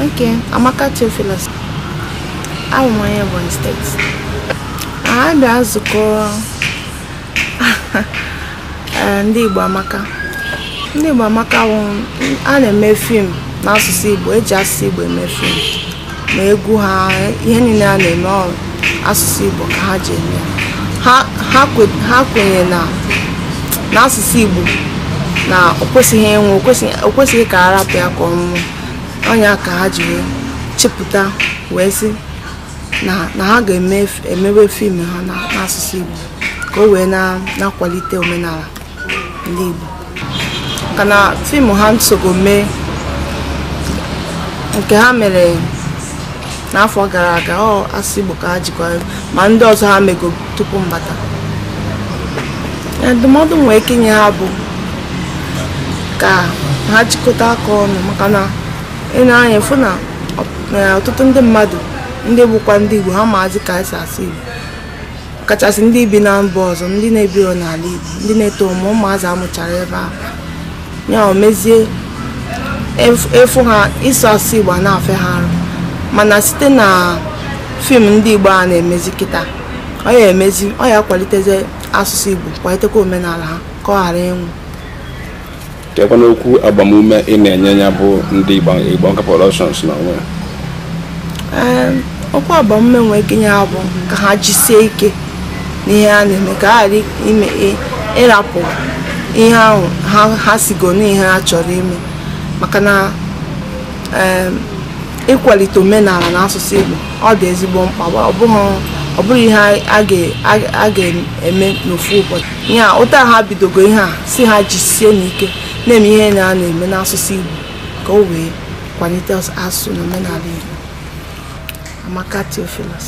Okay, Amaka Theophilus. Abụ m onye Ebonyi steeti. Anyị bịa nzukọ eh, ndị Igbo Amaka. Ndị Igbo Amaka bụ a na-eme fim n'asụsụ Igbo, eji asụsụ Igbo eme fim. ma egwu ha ihe niile ha na-eme ọ asụsụ Igbo ka ha ji eme ha kwenye na asụsụ Igbo na o kwesịghị ịnwụ o kwesịghị ka a rapụ ya ka ọ nwụọ ọ nya ka ha ji wee chepụta wee sị na ha ga-emewe fim ha n'asụsụ Igbo ka o wee na-akwalite omenala ndị Igbo maka na fim ha m sogo mee nke ha mere n'afọ gara aga ọ asụsụ Igbo ka ha jikwa ma ndị ọzọ ha mego tupu m bata ndụmọdụ m nwere ike inye ha bụ ka ha jikọta aka ọnụ maka na i nee anya fụ na ọtụtụ ndị mmadụ ndị bụkwa ndị Igbo ha amazi ka e si asụ Igbo kachasị ndị bi na mba ọzọ ndị na-ebiro n'ala Igbo ndị na-eto ụmụ ụmụazị a mụchara ebe ahụ ya emezie ị fụ ha ịsụ asụsụ Igbo a na-afịa ha arụ mana site na fim ndị Igbo a na-emezi kịta ọ ya-emezi ọ ya-akwalitezi asụsụ Igbo kwalitekwa omenala ha ka ọ ghara ịnwụ kekwanụ okwu agbamume ị na-enye ya bụ ndị Igbo Amaka Productions na onwe okwu agbamume m nwere ike inye ha bụ ka ha jisie ike n'ihe ha na-eme ka ha ghara ịrapụ ihe ahụ ha sịgo n'ihe ha chọrọ ime maka na ịkwalite omenala na asụsụ Igbo ọ dị ezigbo mkpa ọ bụrọ ihe a ga-eme n'ofu ụbọchị ya otu ha bidogo ihe a sị ha jisie n'ike na-eme ihe ha na-eme n'asụsụ Igbo ka o wee kwalite asụsụ na omenala Igbo Amaka Theophilus